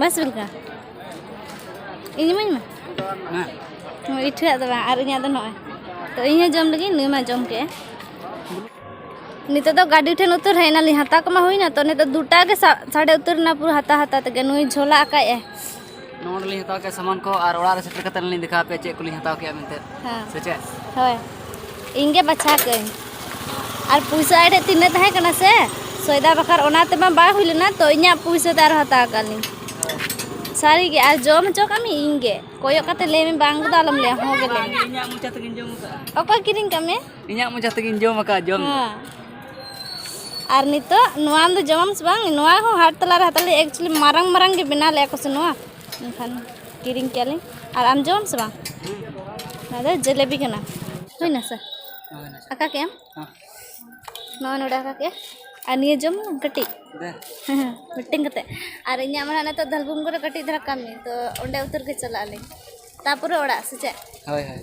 ᱵᱟᱥ ᱵᱮᱞᱠᱟ ᱤᱧ ᱤᱢᱟᱹᱧ ᱢᱮ ᱤᱴᱷᱟᱹᱣᱟᱜ ᱫᱚ ᱵᱟᱝ ᱟᱨ ᱤᱧᱟᱹᱜ ᱫᱚ ᱱᱚᱜᱼᱚᱭ ᱛᱚ ᱤᱧ ᱦᱚᱸ ᱡᱚᱢ ᱞᱟᱹᱜᱤᱫ ᱱᱩᱭ ᱢᱟ ᱡᱚᱢ ᱠᱮᱜᱼᱟ ᱱᱤᱛᱚᱜ ᱫᱚ ᱜᱟᱹᱰᱤ ᱴᱷᱮᱱ ᱩᱛᱟᱹᱨ ᱦᱮᱡ ᱮᱱᱟᱞᱤᱧ ᱦᱟᱛᱟᱣ ᱠᱚᱢᱟ ᱦᱩᱭᱱᱟ ᱛᱚ ᱱᱤᱛᱚᱜ ᱫᱩᱴᱟ ᱜᱮ ᱥᱟᱰᱮ ᱩᱛᱟᱹᱨ ᱮᱱᱟ ᱯᱩᱨᱟᱹ ᱦᱟᱛᱟᱣ ᱦᱟᱛᱟᱣ ᱛᱮᱜᱮ ᱱᱩᱭ ᱡᱷᱚᱞᱟ ᱟᱠᱟᱫ ᱟᱭ ᱱᱚᱰᱮ ᱞᱤᱧ ᱦᱟᱛᱟᱣ ᱠᱮᱫ ᱥᱟᱢᱟᱱ ᱠᱚ ᱟᱨ ᱚᱲᱟᱜ ᱨᱮ ᱥᱮᱴᱮᱨ ᱠᱟᱛᱮ ᱞᱤᱧ ᱫᱮᱠᱷᱟᱣ ᱯᱮ ᱪᱮᱫ ᱠᱚᱞᱤᱧ ᱦᱟᱛᱟᱣ ᱠᱮᱫᱟ ᱢᱮᱱᱛᱮ ᱥᱮ ᱪᱮᱫ ᱦᱳᱭ ᱤᱧ ᱜᱮ ᱵᱟᱪᱷᱟ ᱠᱟᱹᱧ ᱟᱨ ᱯᱩᱭᱥᱟᱹ ᱟᱡ ᱴᱷᱮᱱ ᱛᱤᱱᱟᱹᱜ ᱛᱟᱦᱮᱸ ᱠᱟᱱᱟ ᱥᱮ ᱥᱚᱭᱫᱟ ᱵᱟᱠᱷᱟᱨ ᱚᱱᱟ ᱛᱮᱢᱟ ᱵᱟᱭ ᱦᱩᱭ ᱞᱮᱱᱟ ᱛᱚ ᱤᱧᱟᱹᱜ ᱯᱩᱭᱥᱟᱹ ᱛᱮ ᱟᱨ ᱦᱟᱛᱟᱣ ᱠᱟᱜ ᱞᱤᱧ ᱥᱟᱹᱨᱤ ᱜᱮ ᱟᱨ ᱡᱚᱢ ᱦᱚᱪᱚ ᱠᱟᱜ ᱢᱮ ᱤᱧ ᱜᱮ ᱠᱚᱭᱚᱜ ᱠᱟᱛᱮ ᱞᱟᱹᱭ ᱢᱮ ᱵᱟᱝ ᱫᱚ ᱟᱞᱚᱢ ᱞᱟᱹᱭᱟ ᱦᱚᱸ ᱜᱮ ᱞᱟᱹᱭ ᱢᱮ ᱤᱧᱟᱹᱜ ᱢᱚᱪᱟ ᱛᱮᱜᱮᱧ ᱡᱚᱢ ᱠᱟᱜᱼᱟ ᱚᱠᱚᱭ ᱠᱤᱨᱤᱧ ᱠᱟᱜ ᱢᱮ ᱤᱧᱟᱹᱜ ᱢᱚᱡᱟ ᱛᱮᱜᱮᱧ ᱡᱚᱢ ᱟᱠᱟᱫ ᱡᱚᱢ ᱟᱨ ᱱᱤᱛᱚᱜ ᱱᱚᱣᱟ ᱫᱚ ᱡᱚᱢᱟᱢ ᱥᱮ ᱵᱟᱝ ᱱᱚᱣᱟ ᱦᱚᱸ ᱦᱟᱴ ᱛᱟᱞᱟ ᱨᱮ ᱦᱟᱛᱟᱣ ᱞᱮ ᱮᱠᱪᱩᱭᱮᱞᱤ ᱢᱟᱨᱟᱝ ᱢᱟᱨᱟᱝ ᱜᱮ ᱵᱮᱱᱟᱣ ᱞᱮᱜᱼᱟ ᱠᱚ ᱥᱮ ᱱᱚᱣᱟ ᱮᱱᱠᱷᱟᱱ ᱠᱤᱨᱤᱧ ᱠᱮᱜᱼᱟ ᱞᱤᱧ ᱟᱨ ᱟᱢ ᱡᱚᱢᱟᱢ ᱥᱮ ᱵᱟᱝ ᱱᱚᱣᱟ ᱫᱚ ᱡᱮᱞᱮᱵᱤ ᱠᱟᱱᱟ ᱦᱩᱭᱱᱟ ᱥᱮ ᱟᱠᱟ ᱠᱮᱜ ᱟᱢ ᱱᱚᱣᱟ ᱱᱚᱰᱮ ᱟᱠᱟ ᱠᱮᱜᱼᱟ ᱟᱨ ᱱᱤᱭᱟᱹ ᱡᱚᱢ ᱢᱮ ᱠᱟᱹᱴᱤᱡ ᱢᱤᱫᱴᱮᱱ ᱠᱟᱛᱮ ᱟᱨ ᱤᱧᱟᱹᱜ ᱢᱟ ᱱᱤᱛᱚᱜ ᱫᱷᱟᱞᱵᱩᱢ ᱠᱚᱨᱮ ᱠᱟᱹᱴᱤᱡ ᱫᱷᱟᱨᱟ ᱠᱟᱹᱢᱤ ᱛᱚ ᱚᱸᱰᱮ ᱩᱛᱟᱹᱨ ᱜᱮ ᱪᱟᱞᱟᱜ ᱟᱹᱞᱤᱧ ᱛᱟᱨᱯᱚᱨᱮ ᱚᱲᱟᱜ ᱥᱮ ᱪᱮᱫ ᱦᱳᱭ ᱦᱳᱭ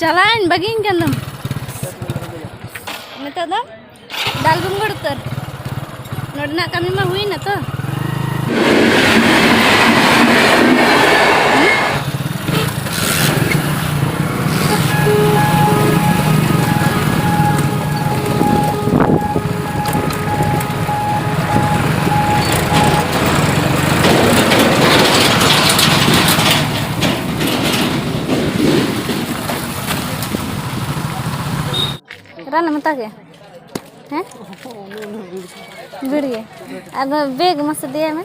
ᱪᱟᱞᱟᱣᱮᱱ ᱵᱟᱹᱜᱤᱧ ᱠᱟᱱ ᱫᱚᱢ ᱱᱤᱛᱚᱜ ᱫᱚ ᱫᱟᱞ ᱵᱩᱝᱜᱚᱲ ᱩᱛᱟᱹᱨ ᱱᱚᱰᱮᱱᱟᱜ ᱠᱟᱹᱢᱤ ᱢᱟ ᱦᱩᱭᱱᱟ ᱛᱚ ᱨᱟᱱ ᱮᱢ ᱦᱟᱛᱟᱣ ᱠᱮᱫᱟ ᱦᱮᱸ ᱵᱤᱲ ᱜᱮ ᱟᱫᱚ ᱵᱮᱜᱽ ᱢᱟᱥᱮ ᱫᱮᱭᱟᱭ ᱢᱮ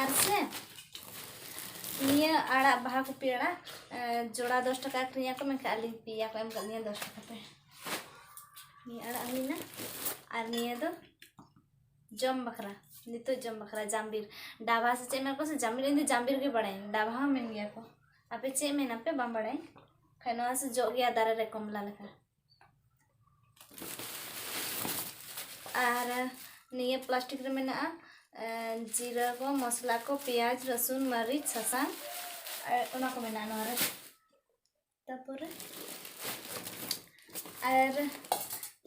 ᱟᱨ ᱥᱮ ᱱᱤᱭᱟᱹ ᱟᱲᱟᱜ ᱵᱟᱦᱟ ᱠᱚᱯᱤ ᱟᱲᱟᱜ ᱡᱚᱲᱟ ᱫᱚᱥ ᱴᱟᱠᱟ ᱟᱹᱠᱷᱨᱤᱧ ᱟᱠᱚ ᱢᱮᱱᱠᱷᱟᱱ ᱟᱹᱞᱤᱧ ᱯᱮᱭᱟ ᱠᱚ ᱮᱢ ᱠᱟᱜ ᱞᱤᱧᱟ ᱫᱚᱥ ᱴᱟᱠᱟ ᱛᱮ ᱱᱤᱭᱟᱹ ᱟᱲᱟᱜ ᱦᱩᱭᱱᱟ ᱟᱨ ᱱᱤᱭᱟᱹ ᱫᱚ ᱡᱚᱢ ᱵᱟᱠᱷᱨᱟ ᱱᱤᱛᱚᱜ ᱡᱚᱢ ᱵᱟᱠᱷᱨᱟ ᱡᱟᱢᱵᱤᱨ ᱰᱟᱵᱷᱟ ᱥᱮ ᱪᱮᱫ ᱢᱮᱱ ᱠᱚ ᱥᱮ ᱡᱟᱢᱵᱤᱨ ᱤᱧ ᱫᱚ ᱡᱟᱢᱵᱤᱨ ᱜᱮ ᱵᱟᱲᱟᱭᱟᱹᱧ ᱰᱟᱵᱷᱟ ᱦᱚᱸ ᱢᱮᱱ ᱜᱮᱭᱟ ᱠᱚ ᱟᱯᱮ ᱪᱮᱫ ᱢᱮᱱᱟᱯᱮ ᱵᱟᱝ ᱵᱟᱲᱟᱭᱟᱹᱧ ᱠᱷᱟᱱ ᱱᱚᱣᱟ ᱥᱮ ᱡᱚᱜ ᱜᱮᱭᱟ ᱫᱟᱨᱮ ᱨᱮ ᱠᱚᱢᱞᱟ ᱞᱮᱠᱟ ᱟᱨ ᱱᱤᱭᱟᱹ ᱯᱞᱟᱥᱴᱤᱠ ᱨᱮ ᱢᱮᱱᱟᱜᱼᱟ ᱡᱤᱨᱟᱹ ᱠᱚ ᱢᱚᱥᱞᱟ ᱠᱚ ᱯᱮᱸᱭᱟᱡᱽ ᱨᱟᱹᱥᱩᱱ ᱢᱟᱹᱨᱤᱪ ᱥᱟᱥᱟᱝ ᱚᱱᱟ ᱠᱚ ᱢᱮᱱᱟᱜᱼᱟ ᱱᱚᱣᱟ ᱨᱮ ᱛᱟᱯᱚᱨᱮ ᱟᱨ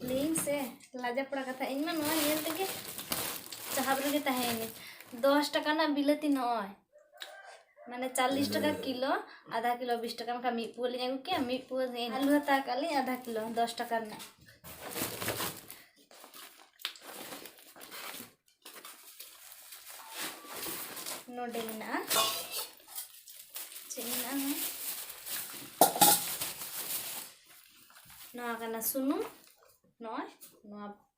ᱞᱟᱹᱭᱟᱹᱧ ᱥᱮ ᱞᱟᱡᱟ ᱯᱟᱲᱟ ᱠᱟᱛᱷᱟ ᱤᱧ ᱢᱟ ᱱᱚᱣᱟ ᱧᱮᱞ ᱛᱮᱜᱮ ᱪᱟᱦᱟᱵ ᱨᱮᱜᱮ ᱛᱟᱦᱮᱸᱭᱮᱱᱟᱹᱧ ᱫᱚᱥ ᱴᱟᱠᱟ ᱨᱮᱱᱟᱜ ᱵᱤᱞᱟᱹᱛᱤ ᱱᱚᱜᱼᱚᱭ ᱢᱟᱱᱮ ᱪᱟᱞᱞᱤᱥ ᱴᱟᱠᱟ ᱠᱤᱞᱳ ᱟᱫᱷᱟ ᱠᱤᱞᱳ ᱵᱤᱥ ᱴᱟᱠᱟ ᱵᱟᱠᱷᱟᱱ ᱢᱤᱫ ᱯᱩᱣᱟᱹ ᱞᱤᱧ ᱟᱹᱜᱩ ᱠᱮᱭᱟ ᱢᱤᱫ ᱯᱩᱣᱟᱹ ᱟᱹᱞᱩ ᱦᱟᱛᱟᱣ ᱠᱟᱜ ᱞᱤᱧ ᱟᱫᱷᱟ ᱠᱤᱞᱳ ᱫᱚᱥ ᱴᱟᱠᱟ ᱨᱮᱱᱟᱜ ᱱᱚᱰᱮ ᱢᱮᱱᱟᱜᱼᱟ ᱪᱮᱫ ᱢᱮᱱᱟᱜᱼᱟ ᱱᱚᱣᱟ ᱠᱟᱱᱟ ᱥᱩᱱᱩᱢ ᱱᱚᱜᱼᱚᱭ ᱱᱚᱣᱟ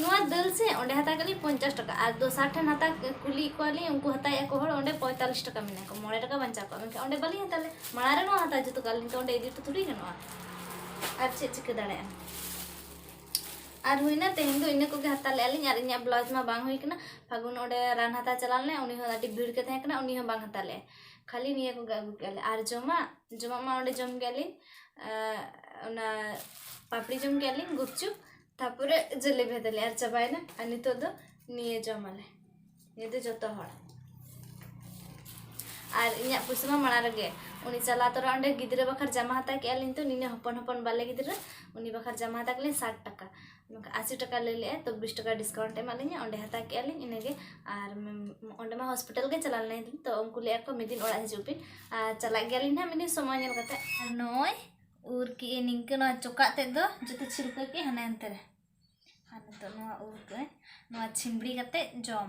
ᱱᱚᱣᱟ ᱫᱟᱹᱞ ᱥᱮ ᱚᱸᱰᱮ ᱦᱟᱛᱟᱣ ᱠᱟᱜ ᱞᱤᱧ ᱯᱚᱧᱪᱟᱥ ᱴᱟᱠᱟ ᱟᱨ ᱫᱚᱥᱟᱨ ᱴᱷᱮᱱ ᱦᱟᱛᱟᱣ ᱠᱩᱞᱤ ᱠᱚᱣᱟ ᱞᱤᱧ ᱩᱱᱠᱩ ᱦᱟᱛᱟᱣᱮᱜᱼᱟ ᱠᱚ ᱦᱚᱲ ᱚᱸᱰᱮ ᱯᱚᱸᱭᱛᱟᱞᱞᱤᱥ ᱴᱟᱠᱟ ᱢᱮᱱᱟ ᱠᱚ ᱢᱚᱬᱮ ᱴᱟᱠᱟ ᱵᱟᱧᱪᱟᱣ ᱠᱚᱜᱼᱟ ᱢᱮᱱᱠᱷᱟᱱ ᱚᱸᱰᱮ ᱵᱟᱹᱞᱤᱧ ᱦᱟᱛᱟᱣ ᱞᱮᱫ ᱢᱟᱲᱟᱝ ᱨᱮ ᱱᱚᱣᱟ ᱦᱟᱛᱟᱣ ᱡᱩᱛ ᱠᱟᱜ ᱞᱤᱧ ᱛᱚ ᱚᱸᱰᱮ ᱤᱫᱤ ᱛᱚ ᱛᱷᱩᱲᱤ ᱜᱟᱱᱚᱜᱼᱟ ᱟᱨ ᱪᱮᱫ ᱪᱤᱠᱟᱹ ᱫᱟᱲᱮᱭᱟᱜᱼᱟ ᱟᱨ ᱦᱩᱭᱱᱟ ᱛᱮᱦᱮᱧ ᱫᱚ ᱤᱱᱟᱹ ᱠᱚᱜᱮ ᱦᱟᱛᱟᱣ ᱞᱮᱜᱼᱟ ᱞᱤᱧ ᱟᱨ ᱤᱧᱟᱹᱜ ᱵᱞᱟᱣᱩᱡᱽ ᱢᱟ ᱵᱟᱝ ᱦᱩᱭ ᱠᱟᱱᱟ ᱯᱷᱟᱹᱜᱩᱱ ᱚᱸᱰᱮ ᱨᱟᱱ ᱦᱟᱛᱟᱣ ᱪᱟᱞᱟᱣ ᱞᱮᱱᱟᱭ ᱩᱱᱤ ᱦᱚᱸ ᱟᱹᱰᱤ ᱵᱷᱤᱲ ᱜᱮ ᱛᱟᱦᱮᱸ ᱠᱟᱱᱟ ᱩᱱᱤ ᱦᱚᱸ ᱵᱟᱝ ᱦᱟᱛᱟᱣ ᱞᱮᱜᱼᱟᱭ ᱠᱷᱟᱹᱞᱤ ᱱᱤᱭᱟᱹ ᱠᱚᱜᱮ ᱟᱹᱜᱩ ᱠᱮᱜᱼᱟ ᱞᱮ ᱟᱨ ᱡᱚᱢᱟᱜ ᱡᱚᱢᱟᱜ ᱢᱟ ᱚᱸᱰᱮ ᱡᱚᱢ ᱠᱮᱜᱼᱟ ᱞᱤᱧ ᱚᱱᱟ ᱯᱟᱯᱲᱤ ᱡᱚᱢ ᱠᱮᱫ ᱞᱤᱧ ᱜᱩᱯᱪᱩᱯ ᱛᱟᱯᱚᱨᱮ ᱡᱮᱞᱮᱵᱤ ᱦᱟᱛᱟᱞᱤᱧ ᱟᱨ ᱪᱟᱵᱟᱭᱮᱱᱟ ᱟᱨ ᱱᱤᱛᱚᱜ ᱫᱚ ᱱᱤᱭᱟᱹ ᱡᱚᱢᱟᱞᱮ ᱱᱤᱭᱟᱹ ᱫᱚ ᱡᱚᱛᱚ ᱦᱚᱲ ᱟᱨ ᱤᱧᱟᱹᱜ ᱯᱩᱭᱥᱟᱹ ᱢᱟ ᱢᱟᱲᱟᱝ ᱨᱮᱜᱮ ᱩᱱᱤ ᱪᱟᱞᱟᱣ ᱛᱚᱨᱟ ᱚᱸᱰᱮ ᱜᱤᱫᱽᱨᱟᱹ ᱵᱟᱠᱷᱨᱟ ᱡᱟᱢᱟ ᱦᱟᱛᱟᱣ ᱠᱮᱫᱼᱟ ᱞᱤᱧ ᱛᱚ ᱱᱤᱱᱟᱹ ᱦᱚᱯᱚᱱ ᱦᱚᱯᱚᱱ ᱵᱟᱞᱮ ᱜᱤᱫᱽᱨᱟᱹ ᱩᱱᱤ ᱵᱟᱠᱷᱨᱟ ᱡᱟᱢᱟ ᱦᱟᱛᱟᱣ ᱠᱮᱫᱼᱟ ᱞᱤᱧ ᱥᱟᱴ ᱴᱟᱠᱟ ᱱᱚᱝᱠᱟ ᱟᱥᱤ ᱴᱟᱠᱟ ᱞᱟᱹᱭ ᱞᱮᱫᱼᱟᱭ ᱛᱚ ᱵᱤᱥ ᱴᱟᱠᱟ ᱰᱤᱥᱠᱟᱣᱩᱱᱴ ᱮᱢᱟᱫ ᱞᱤᱧᱟᱹ ᱚᱸᱰᱮ ᱦᱟᱛᱟᱣ ᱠᱮᱫᱼᱟ ᱞᱤᱧ ᱤᱱᱟᱹ ᱜᱮ ᱟᱨ ᱚᱸᱰᱮ ᱢᱟ ᱦᱚᱥᱯᱤᱴᱟᱞ ᱜᱮ ᱪᱟᱞᱟᱣ ᱞᱮᱱᱟᱭ ᱛᱚ ᱩᱱᱠᱩ ᱞᱟᱹᱭ ᱮᱫᱟ ᱠᱚ ᱢᱤᱫ ᱫᱤᱱ ᱚᱲᱟᱜ ᱦᱤᱡᱩᱜ ᱵᱤᱱ ᱟᱨ ᱪᱟᱞᱟᱜ ᱜᱮᱭᱟ ᱞᱤᱧ ᱦᱟᱸᱜ ᱢᱤᱫ ᱫᱤᱱ ᱥᱚᱢᱚᱭ ᱧᱮᱞ ᱠᱟᱛᱮᱫ ᱟᱨ ᱱᱚᱜᱼᱚᱭ ᱩᱨ ᱠᱮᱫ ᱟᱹᱧ ᱱᱤᱝᱠᱟᱹ ᱱᱚᱣᱟ ᱪᱚᱠᱟᱜ ᱛᱮᱫ ᱫᱚ ᱡᱚᱛᱚ ᱪᱷᱤᱞᱠᱟᱹ ᱠᱮᱫ ᱦᱟᱱᱮ ᱦᱟᱱᱛᱮ ᱨᱮ ᱟᱨ ᱱᱤᱛᱚᱜ ᱱᱚᱣᱟ ᱩᱨ ᱠᱟᱜ ᱟᱹᱧ ᱱᱚᱣᱟ ᱪᱷᱤᱢᱵᱽᱲᱤ ᱠᱟᱛᱮᱫ ᱡᱚᱢ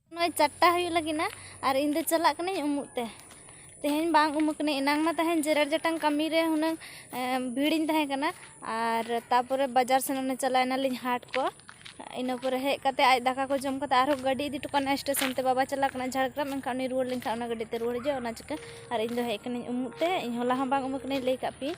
ᱱᱚᱜᱼᱚᱭ ᱪᱟᱨᱴᱟ ᱦᱩᱭᱩᱜ ᱞᱟᱹᱜᱤᱫ ᱱᱟ ᱟᱨ ᱤᱧ ᱫᱚ ᱪᱟᱞᱟᱜ ᱠᱟᱹᱱᱟᱹᱧ ᱩᱢᱩᱜ ᱛᱮ ᱛᱮᱦᱮᱧ ᱵᱟᱝ ᱩᱢᱩᱜ ᱠᱟᱹᱱᱟᱹᱧ ᱮᱱᱟᱝ ᱢᱟ ᱛᱟᱦᱮᱱ ᱡᱮᱨᱮᱲ ᱡᱟᱴᱟᱝ ᱠᱟᱹᱢᱤ ᱨᱮ ᱦᱩᱱᱟᱹᱝ ᱵᱷᱤᱲᱤᱧ ᱛᱟᱦᱮᱸ ᱠᱟᱱᱟ ᱟᱨ ᱛᱟᱨᱯᱚᱨᱮ ᱵᱟᱡᱟᱨ ᱥᱮᱱ ᱚᱱᱮ ᱪᱟᱞᱟᱣ ᱮᱱᱟᱞᱤᱧ ᱦᱟᱴ ᱠᱚ ᱤᱱᱟᱹ ᱯᱚᱨᱮ ᱦᱮᱡ ᱠᱟᱛᱮ ᱟᱡ ᱫᱟᱠᱟ ᱠᱚ ᱡᱚᱢ ᱠᱟᱛᱮ ᱟᱨᱦᱚᱸ ᱜᱟᱹᱰᱤ ᱤᱫᱤ ᱦᱚᱴᱚ ᱠᱟᱜ ᱱᱟᱭ ᱥᱴᱮᱥᱚᱱ ᱛᱮ ᱵᱟᱵᱟ ᱪᱟᱞᱟᱜ ᱠᱟᱱᱟᱭ ᱡᱷᱟᱲᱜᱨᱟᱢ ᱮᱱᱠᱷᱟᱱ ᱩᱱᱤ ᱨᱩᱣᱟᱹᱲ ᱞᱮᱱᱠᱷᱟᱱ ᱚᱱᱟ ᱜᱟᱹᱰᱤ ᱛᱮ ᱨᱩᱣᱟᱹᱲ ᱦᱤᱡᱩᱜᱼᱟ ᱚᱱᱟ ᱪᱤᱠᱟᱹ ᱟᱨ ᱤᱧ ᱫᱚ ᱦᱮᱡ ᱠᱟᱹᱱᱟᱹᱧ ᱩᱢᱩᱜ ᱛᱮ ᱤᱧ ᱦᱚᱞᱟ ᱦᱚᱸ ᱵᱟᱝ ᱩᱢᱩᱜ ᱠᱟᱹᱱᱟᱹᱧ ᱞᱟᱹᱭ ᱠᱟᱜ ᱯᱮᱭᱟᱹᱧ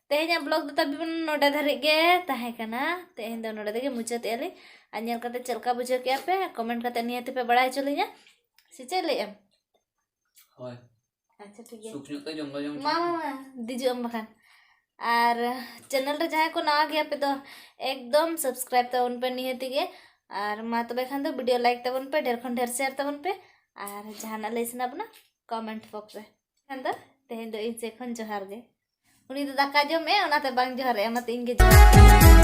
ᱛᱮᱦᱮᱧᱟᱜ ᱵᱞᱚᱜ ᱫᱚ ᱛᱟᱵᱤᱵᱚᱱ ᱱᱚᱰᱮ ᱫᱷᱟᱹᱨᱤᱡ ᱜᱮ ᱛᱟᱦᱮᱸ ᱠᱟᱱᱟ ᱛᱮᱦᱮᱧ ᱫᱚ ᱱᱚᱰᱮ ᱛᱮᱜᱮ ᱢᱩᱪᱟᱹᱫ ᱮᱜᱼᱟ ᱞᱤᱧ ᱟᱨ ᱧᱮᱞ ᱠᱟᱛᱮ ᱪᱮᱫ ᱞᱮᱠᱟ ᱵᱩᱡᱷᱟᱹᱣ ᱠᱮᱜᱼᱟ ᱯᱮ ᱠᱚᱢᱮᱱᱴ ᱠᱟᱛᱮ ᱱᱤᱦᱟᱹᱛᱤ ᱯᱮ ᱵᱟᱲᱟᱭ ᱦᱚᱪᱚ ᱞᱤᱧᱟ ᱥᱮ ᱪᱮᱫ ᱞᱟᱹᱭ ᱮᱢ ᱦᱳᱭ ᱟᱪᱪᱷᱟ ᱴᱷᱤᱠ ᱜᱮᱭᱟ ᱥᱩᱠ ᱧᱚᱜ ᱛᱮ ᱡᱚᱢ ᱫᱚ ᱡᱚᱢ ᱢᱟ ᱢᱟ ᱫᱤᱡᱩᱜ ᱟᱢ ᱵᱟᱠᱷᱟᱱ ᱟᱨ ᱪᱮᱱᱮᱞ ᱨᱮ ᱡᱟᱦᱟᱸᱭ ᱠᱚ ᱱᱟᱣᱟ ᱜᱮᱭᱟ ᱯᱮ ᱫᱚ ᱮᱠᱫᱚᱢ ᱥᱟᱵᱥᱠᱨᱟᱭᱤᱵ ᱛᱟᱵᱚᱱ ᱯᱮ ᱱᱤᱦᱟᱹᱛᱤ ᱜᱮ ᱟᱨ ᱢᱟ ᱛᱚᱵᱮ ᱠᱷᱟᱱ ᱫᱚ ᱵᱷᱤᱰᱤᱭᱳ ᱞᱟᱭᱤᱠ ᱛᱟᱵᱚᱱ ᱯᱮ ᱰᱷᱮᱨ ᱠᱷᱚᱱ ᱰᱷᱮᱨ ᱥᱮᱭᱟᱨ ᱛᱟᱵᱚᱱ ᱯᱮ ᱟᱨ ᱡᱟᱦᱟᱱᱟᱜ ᱞᱟᱹᱭ ᱥᱟᱱᱟ ᱵᱚᱱᱟ ᱠᱚᱢᱮᱱᱴ ᱵᱚᱠᱥ ᱨᱮ ᱠᱷᱟᱱ ᱫᱚ ᱛᱮᱦᱮᱧ ᱫᱚ ᱤᱧ ᱥᱮᱫ ᱠᱷᱚᱱ ᱡᱚᱦᱟᱨ ᱜᱮ ᱩᱱᱤ ᱫᱚ ᱫᱟᱠᱟ ᱡᱚᱢᱮᱜᱼᱟ ᱚᱱᱟᱛᱮ ᱵᱟᱝ ᱡᱚᱦᱟᱨᱮᱜᱼᱟ ᱚᱱᱟᱛᱮ ᱤᱧ ᱜᱮ ᱡᱚᱦᱟᱨ